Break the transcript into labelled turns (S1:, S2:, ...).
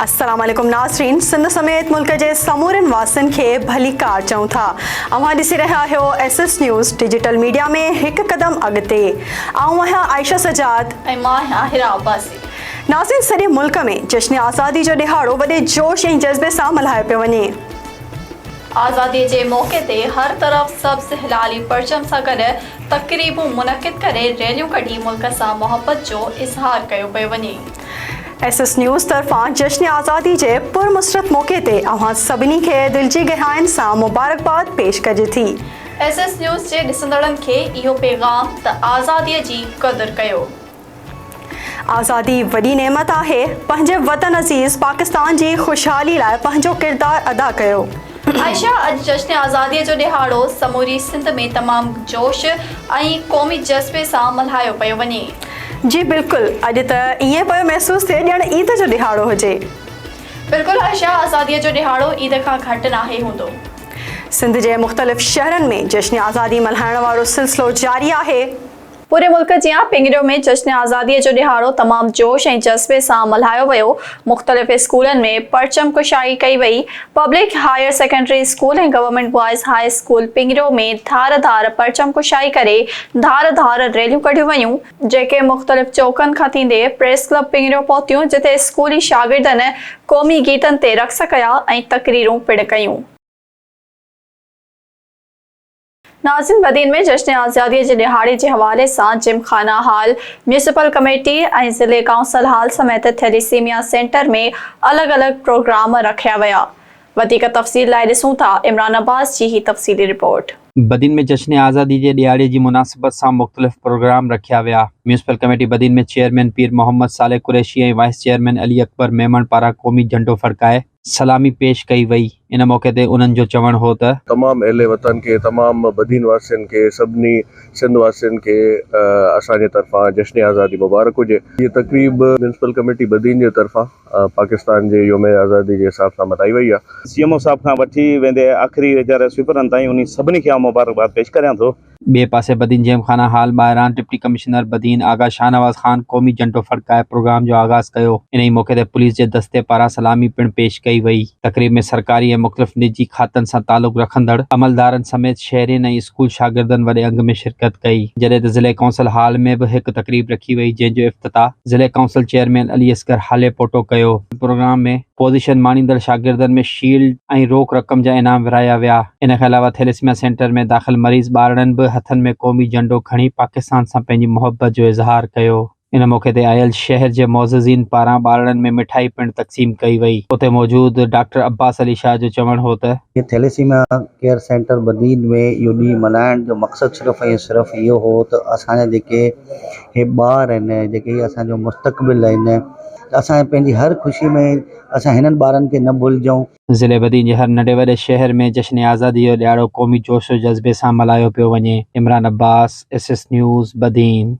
S1: السلام عليڪم ناظرين سنڌ سميت ملڪ جي سمورين واسين کي ڀليڪار چئون ٿا اوهان ڏسي رهيا آهيو S S news digital media ۾ هڪ قدم اڳتي آئون آهيان عائشه سجاد ۽ مان آهيان آهرا
S2: عباسي ناظرين سڄي
S1: ملڪ ۾ جشن آزادي جو ڏهاڙو وڏي جوش ۽ جذبي سان ملهايو پيو وڃي
S2: آزادي جي موقعي تي هر طرف سبز هلالي پرچم سان گڏ تقريبون منعقد ڪري ريليون ڪڍي ملڪ سان محبت جو اظهار ڪيو پيو وڃي. ايس ايس
S1: نيوز طرفان جشن آزادي جي پر مسرت موقعي تي اوهان سڀني کي دل جي گهراين سان مبارڪباد پيش ڪجي ٿي. ايس ايس نيوز
S2: جي ڏسندڙن کي اهو پيغام ته آزادي جي قدر ڪيو.
S1: آزادي وڏي نعمت آهي، پنهنجي وطن عزيز پاڪستان جي خوشحالي لاء پنهنجو ڪردار ادا ڪيو. عائشه اڄ
S2: جشن آزادي جو ڏهاڙو سموري سنڌ ۾ تمام جوش ۽ قومي جذبي سان ملهايو پيو وڃي. جي بلڪل
S1: اڄ ته ائين پيو محسوس ٿئي ڄڻ عيد جو ڏهاڙو هجي. بلڪل
S2: عائشه آزادي جو ڏهاڙو عيد کان گهٽ ناهي هوندو. سنڌ جي
S1: مختلف شهرن ۾ جشن آزادي ملهائڻ وارو سلسلو جاري آهي. پوري ملڪ
S2: جيان پنگريو ۾ جشن آزادي جو ڏهاڙو تمام جوش ۽ جذبي سان ملهايو ويو، مختلف اسڪولن ۾ پرچم ڪشائي ڪئي وئي، public higher secondary school ۽ government boys high school Pangrio ۾ ڌار ڌار پرچم ڪشائي ڪري ڌار ڌار ريليون ڪڍيون ويون، جيڪي مختلف چوڪن کان ٿيندي پريس ڪلب پنگريو پهتيون جتي اسڪولي شاگردن قومي گيتن تي رقص ڪيا ۽ تقريرون پڻ ڪيون. ناظرين بدين ۾ جشن آزادي جي ڏهاڙي جي حوالي سان gymkhana hall, municipal committee ۽ ضلعي ڪائونسل هال سميت ٿيليسيميا سينٽر ۾ الڳ الڳ پروگرام رکيا ويا وڌيڪ تفصيل لاء ڏسون ٿا عمران عباس جي هي تفصيلي رپورٽ. بدين ۾ جشن
S3: آزادي جي ڏهاڙي جي مناسبت سان مختلف پروگرام رکيا ويا municipal committee Badin ۾ chairman Pir Muhammad Saleh Qureshi ۽ vice chairman Ali Akbar Memon پاران قومي جهنڊو ڦڙڪائي سلامي پيش ڪئي وئي ان موقعي تي انهن جو چوڻ هو ته. تمام اهل وطن کي
S4: تمام بدين واسين کي سڀني سنڌ واسين کي اسان جي طرفان جشن آزادي مبارڪ هجي هيء تقريب ميونسپل ڪميٽي بدين جي طرفان پاڪستان جي يوم آزادي جي حساب سان ملهائي وئي آهي. سي ايم او صاحب کان وٺي
S5: ويندي آخري ويچاري سوئيپرن تائين انهي سڀني کي آئون مبارڪباد پيش ڪريان ٿو. ٻئي پاسي بدين
S3: جيم خانه هال ٻاهران ڊپٽي ڪمشنر بدين آغا شاهنواز خان قومي جهنڊو ڦڙڪائي پروگرام جو آغاز ڪيو. انهي موقعي تي پوليس جي دستي پاران سلامي پڻ پيش ڪئي وئي. تقريب ۾ سرڪاري ۽ مختلف نجي کاتن سان تعلق رکندڙ عملدارن سميت شهرين ۽ اسڪول شاگردن وڏي انگ ۾ شرڪت ڪئي. جڏهن ته ضلعي ڪائونسل هال ۾ به هڪ تقريب رکي وئي جنهن جو افتتاح ضلعي ڪائونسل چيئرمين علي اصغر هاليپوٽو ڪيو. پروگرام ۾ پوزيشن ماڻيندڙ شاگردن ۾ شيلڊ ۽ روڪ رقم جا انعام ورهايا ويا. ان کان علاوه ٿيليسميا سينٽر ۾ داخل مريض ٻارڙن به هٿن ۾ قومي جهنڊو کڻي پاڪستان سان پنهنجي محبت جو اظهار ڪيو. ان موقعي تي آيل شهر جي معززين پاران ٻارڙن ۾ مٺائي پڻ تقسيم ڪئي وئي. اتي موجود ڊاڪٽر عباس علي شاهه جو چوڻ هو ته. ٿيليسيميا
S6: ڪيئر سينٽر بدين ۾ اهو ڏينهن ملهائڻ جو مقصد صرف ۽ صرف اهو هو ته اسان جا جيڪي هي ٻار آهن جيڪي اسان جو مستقبل آهن. اسان کي پنهنجي هر خوشي ۾ اسان هنن ٻارن کي نه ڀلجون. ضلعي بدين جي هر
S3: ننڍي وڏي شهر ۾ جشن آزادي جو ڏهاڙو قومي جوش و جذبي سان ملهايو پيو وڃي، Imran Abbas, S S news, Badin.